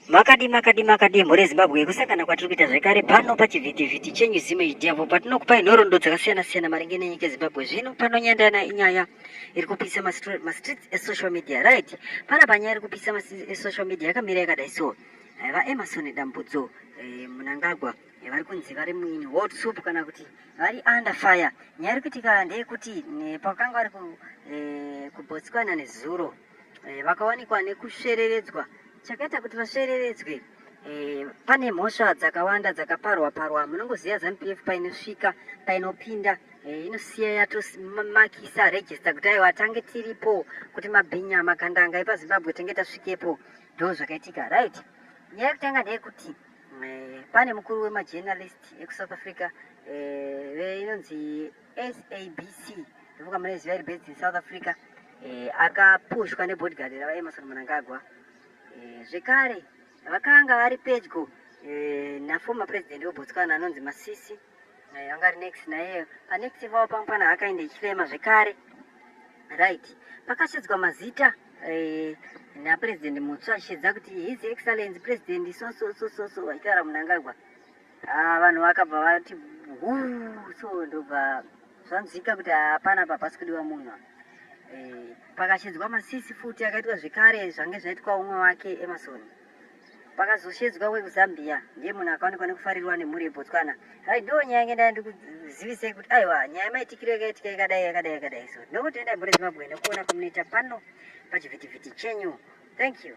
Makadi makadi makadi mhuri yeZimbabwe kusangana kwatiri kuita zvekare pano pachivhitivhiti chenyu zimwe idevo patinokupai nhorondo dzakasiyana siyana maringe nenyika yeZimbabwe zvino panonyandana inyaya iri kupisa mastreets esocial media right pana panyaya iri kupisa esocial media yakamira yakadai so eh, vaemarson dambudzo eh, munangagwa eh, vari kunzi vari muini world soup kana kuti vari under fire nyaya iri kuitika ndeyekuti pakanga vari kubotsikana nezuro eh, vakawanikwa nekusvereredzwa chakaita kuti vasvereredzwe eh, pane mhosva dzakawanda dzakaparwa parwa munongoziva zanupf painosvika painopinda eh, inosiya yatomakisa regista kuti aiwa tange tiripo kuti mabhinya magandanga epazimbabwe tenge tasvikepo ndo zvakaitika right nyaya yekutanga ndeyekuti eh, pane mukuru wemajournalist ekusouth africa eh, inonzi SABC ndofunga munoiziva iri based in South Africa eh, akapushwa nebodyguard ravaEmerson Mnangagwa eh, zvekare vakanga vari pedyo eh, naformer president weBotswana anonzi Masisi eh, vanga ri next naye panext vavo pamwe pana akaenda ichifema zvekare right pakashedzwa mazita eh, napresident mutsva achishedza kuti his excellence president so so so so so vachitaura Mnangagwa Ah, vanhu vakabva vati huu so ndobva zvanzwika kuti hapana apa pasi kudiwa munhu eh, pakashedzwa masisi futi akaitwa zvekare zvange zvaitwa umwe wake emasoni pakazoshedzwa wekuzambia ndiye munhu akaonekwa nekufarirwa nemhuri yebotswana raidiwo nyaya yange ndaya ndikuzivisei kuti aiwa nyaya maitikiro yakaitika yakadai yakadai yakadai so ndokuti endai mhuri zimbabwe nekuona kwamunoita pano pachivhitivhiti chenyu thank you